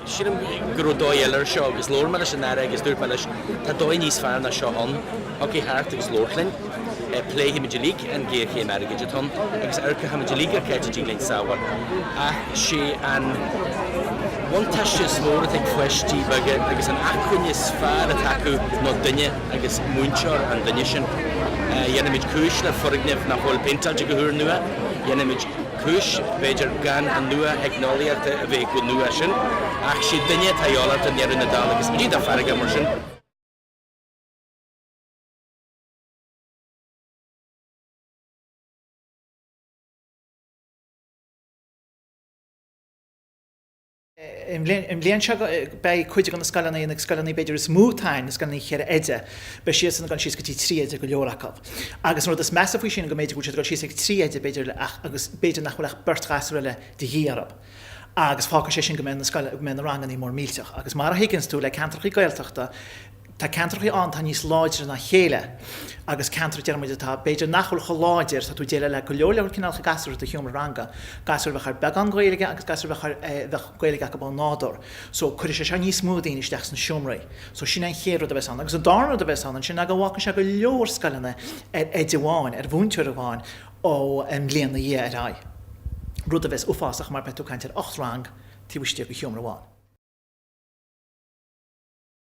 Sílim go raibh dóigh eile ar seo agus labhair mé leis an Aire agus dúirt mé leis tá dóigh níos fearr ná seo ann, thiocfaidh thart agus labhairt linn, pléifimid uilig an géarchéim airgid atá ann agus amharcfaimid uilig ar caidé a thig linn sábháil. Ach sé an bhuntáiste is mó atá ag páistí beaga agus an acmhainn is fearr atá acu ná duine agus múinteoir an duine sin. Dhéanfaimid cúis le foirgneamh nach bhfuil péinteáilte go húr nua, dhéanfaimid. cúis, b'fhéidir, gan an nuatheicneolaíocht a bheith chomh nua sin, ach sé an duine atá tábhachtach i ndeireadh na dála agus ní dá farraige, mar sin. I mbliain seo beidh cuid de na scoileanna, na scoileanna b'fhéidir is mó atá ann, na scoileanna cheithre oide, beidh siadsan ag dul síos go dtí trí oide, go leor acu. Agus an rud is measa faoi sin go mb'fhéidir go bhfuil siad ag dul síos ag trí oide b'fhéidir ach, agus b'fhéidir nach bhfuil ach beirt ghasúr eile de dhíth orthu. Agus fágfaidh sé sin go mbeidh na rangannaí mór millteach. Agus mar a thuigeanns tú le ceantrachaí Gaeltachta, Tá ceantrachaí ann atá níos láidre ná a chéile agus ceantar, deir muid, atá, b'fhéidir nach bhfuil chomh láidir, tá tú ag déileáil le go leor leor cineálacha gasúr i do sheomra ranga, gasúir a bheadh ar beagán Gaeilge agus gasúir a bheadh ar, eh, bheadh Gaeilge acu ó nádúr. So, cuirfidh sé seo níos mó daoine isteach sna seomraí. So, sin é an chéad rud a bheas ann. Agus an darna rud a bheas ann ansin ná go bhfágfaidh sé go leor scoileanna ar oide amháin, ar mhúinteoir amháin ón mbliain ina dhiaidh ar aghaidh, rud a bheas uafásach mar beidh tú ag caint ar ocht rang taobh istigh de sheomra amháin.